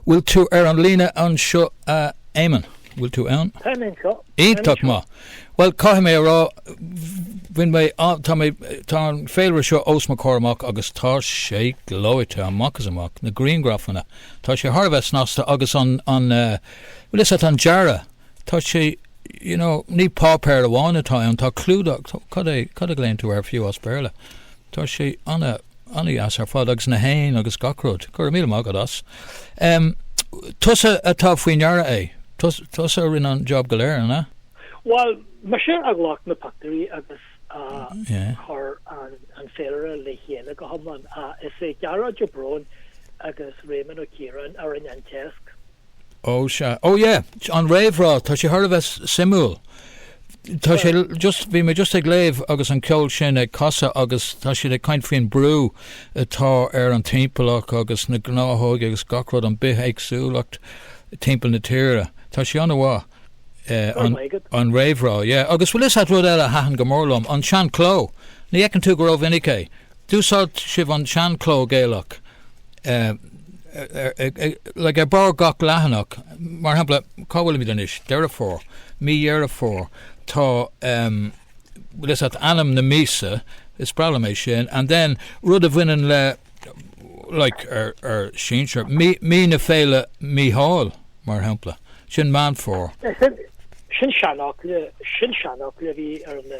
Bhfuil tú ar an líne anseo a Éamonn? Bhfuil tú ann? Táim anseo, táim anseo. Iontach maith. Bhuel, caithfidh mé a rá, bhain mé an, tá mé, tá an féilire seo os mo chomhair amach agus tá sé gleoite amach is amach, na griangrafanna. Tá sé thar a bheith snasta agus an, an eh, bhuel, is é an dearadh, tá sé, you know, ní páipéar amháin atá ann, tá clúdach, cad é, cad a ghlaonn tú air fiú as Béarla? Tá sé ana, ana-dheas ar fad agus na héin agus gach rud. Go raibh míle maith agat as. Tusa atá faoi ndeara é. Tusa a rinne an job go léir, an ea? Bhal, mise a ghlac na pictiúirí agus a chur an féilire le chéile go hiomlán. Is é Gearóid Ó Bróin agus Réamonn Ó Ciaráin a rinne an téacs. Ó, sea. Ó, yeah, an réamhrá, tá sé thar a bheith suimiúil. Tá sé just, bhí mé just ag léamh agus an ceol sin ag casadh agus tá sé ag caint faoin brú atá ar an timpeallacht agus na gnáthóga agus gach rud, an bithéagsúlacht timpeall na tíre. Tá sé an-mhaith, an réamhrá, yeah. Agus bhfuil 'fhios a'd rud eile a thaitin go mór liom, an sean-chló. Ní fheiceann tú go rómhinic é. D'úsáid sibh an sean-chló Gaelach like ar barr gach leathanach, mar shampla, cá bhfuilimid anois? Deireadh Fómhair, mí Dheireadh Fómhair, tá em bhfuil fhios a't ainm na míosa, is breá liom é sin, and then rud a bhaineann le like ár sinsear, mí mí na Féile Míchíl, mar shampla, sin Meán Fómhair. Sin sin seanfhocal, sin seanfhocal a bhí ar na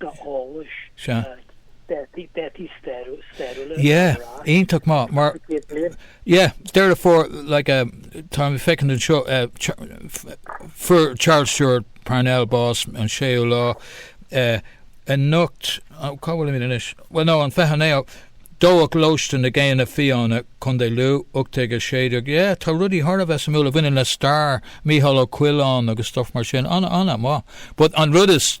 d'eolais. Sea. D'eitic stairiúil ar Yeah, an rás. iontach maith mar Cúpla céad bliain. yeah, Deireadh Fómhair like eh, tá, feicim anseo eh, fuair Charles Stewart Parnell bás an 6ú lá eh, anocht, cá bhfuilimid anois? Bhuel no, an 29 dódh Lóiste na nGéanna Fiáine, Co. Lú, 1816. Yeah, tá rudaí thar a bheith suimiúil a bhaineann le stair, Micheál Ó Coileáin agus stuff mar sin, an, an-mhaith. But an rud is.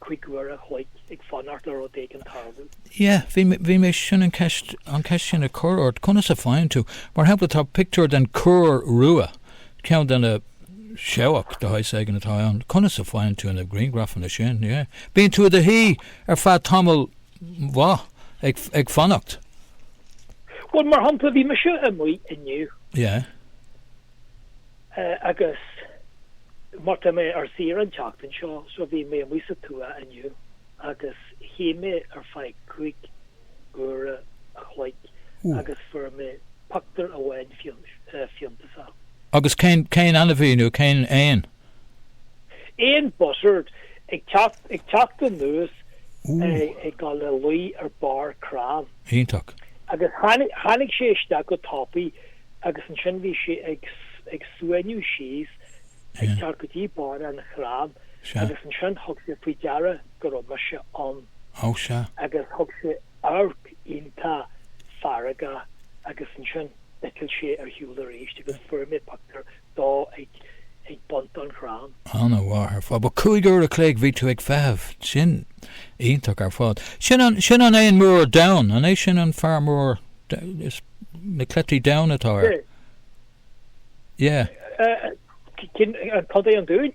cúig uair a' chloig ag fanacht le rud éigin a tharlú. Yeah, bhí mé, bhí mé, sin an ceist, an ceist sin a chur ort, conas a faigheann tú, mar shampla tá pictiúr den chúr rua, ceann de na, seabhac de shaghas éigin atá ann, conas a faigheann tú na griangrafanna sin, yeah. Bíonn tú i do shuí ar feadh tamall maith ag, ag fanacht. Bhuel, mar shampla, bhí mise amuigh inniu. Yeah. Agus mar tá mé ar saoire an tseachtain seo so bhí mé amuigh sa tuath inniu agus shuigh mé ar feadh cúig uaire a chloig agus fuair mé pioctúir amháin fiúntasach. Agus cén ainmhí nó cén éan? Éan buzzard, ag teacht anuas ag dul le luí ar barr crann. Iontach. Agus tháinig sé isteach go tapaidh. Agus ansin bhí sé ag suaimhniú síos ag teacht go dtí barr an chrainn agus ansin thug sé faoi deara go raibh mise ann agus thug sé amharc iontach feargach agus ansin d'eitil sé ar shiúl arís agus fuair mé pictiúr dó ag bun an chrainn. An-mhaith ar fad. Bhuel, cúig uair an chloig bhí tú ag feitheamh. Sin iontach ar fad. Sin an, sin an t-éan mór donn, an é sin an fear mór, is, na cleití donn atá air? Yeah. An, cad é an dúin?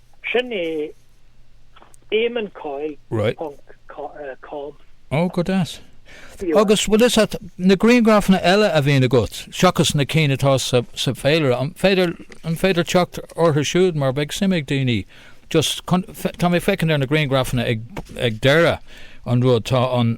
Sin é Éamonn Coyle Right. ponc com. Oh, go deas. Bhí uaim. Agus, bhfuil 'fhios a't, na griangrafanna eile a bhíonn agat, seachas na cinn atá sa, sa Féilire, an féidir, an féidir teacht orthu siúd, mar beidh suim ag daoine, just, chun, tá mé ag féachaint ar na griangrafanna ag, ag deireadh an rud, tá an,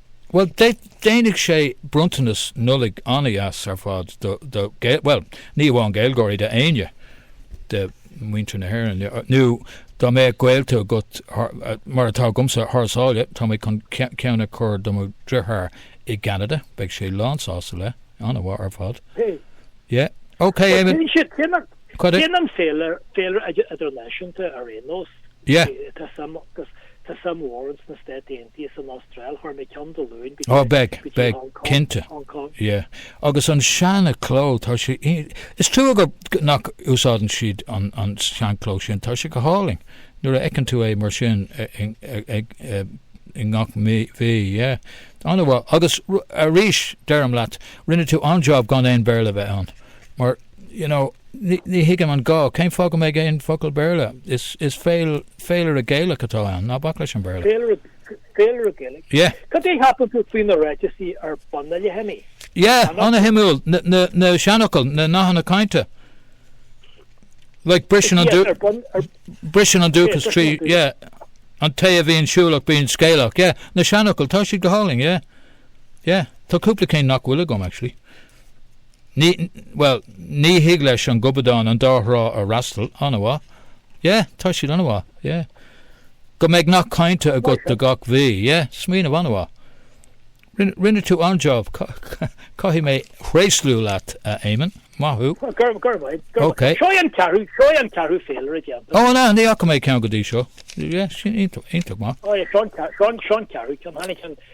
Bhuel, déanfaidh sé bronntanas Nollaig an-deas ar fad do, do, bhuel, ní amháin Gaeilgeoirí, d'éinne de mhuintir na hÉireann, nó dá mbeadh gaolta agat, mar atá agamsa, thar sáile, tá mé chun ceann a chur do mo dheartháir i gCeanada, beidh sé lán sásta le, an-mhaith ar fad. Hey. Yeah. OK, Eamon. Déanann siad, déanann, déanann féilire, féilire idirnáisiúnta ar aon nós. Yeah. Tá suim, tá suim mhór ins na Stáit Aontaithe is an Astráil, chuir mé ceann Dé Luain go dtí, go dtí Hong Kong, Hong Kong. Yeah, agus an seana cló, tá sé, is trua go, nach úsáideann siad an, an seanchló sin, tá sé go hálainn, nuair a fheiceann tú é mar sin ag, i ngach mí, mhí, yeah, an-mhaith, agus arís, deirim leat, rinne tú an-jab gan aon Béarla bheith ann, mar. You know, ní thuigim an gá, cén fáth go mbeidh aon focal Béarla? Is is féil féilire Gaelach atá ann, ná bac leis an Béarla. Féilire féilire Gaelach? Yeah. Cad é a shíleann tú faoi na ráiteasaí ar bun a leithéidí? Yeah, an-shuimiúil, na na na seanfhocail, na nathanna cainte. Like briseann an Yes, ar bun ar briseann an Yes, dúchas briseann trí, an dúchas. yeah, an té a bhíonn siúlach bíonn scéalach, yeah, na seanfhocail, tá siad go hálainn, yeah, yeah. Tá cúpla cinn nach bhfuil agam, actually. Ní, bhuel, ní thig leis an gobadán an dá thrá a fhreastal, an-mhaith, yeah, tá siad an-mhaith, yeah. Go mbeidh nath cainte agat do gach mhí, yeah, smaoineamh an-mhaith. Rinne, rinne tú an-jab, caithfidh mé tréaslú leat, a Éamon, maith thú. Go raibh, go raibh maith, go raibh maith. Seo é an ceathrú, seo é an ceathrú féilire againn. Ó, an ea, ní fhaca mé ceann go dtí seo. Yeah, sin iontach, iontach maith. Ó, seo an, seo an, seo an ceathrú ceann, tháinig an,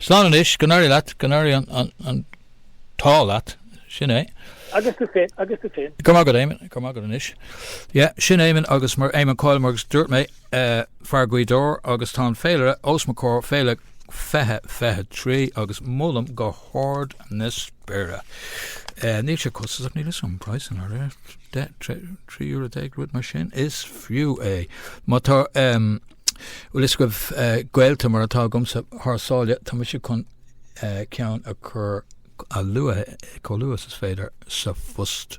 Slán anois, go n-éirí leat, go n-éirí an t-ádh leat, sin é. Agus tú féin, agus tú féin. Go raibh maith agat, Éamonn, go raibh maith agat anois. Yeah, sin Éamonn agus mar Éamonn Coyle mar agus dúirt mé, fear Ghaoth Dobhair agus tá an féilire os mo chomhair, féile 2023 agus molaim go hard na spéire. Níl sé costasach, níl fhios a'm an praghas in airde, deich, trí euro déag, rud mar sin, is fiú é. Má tá, ehm. bhfuil fhios agaibh, gaolta mar atá agamsa thar sáile, tá mise chun ceann a chur a luaithe, chomh luath is is féidir, sa phost.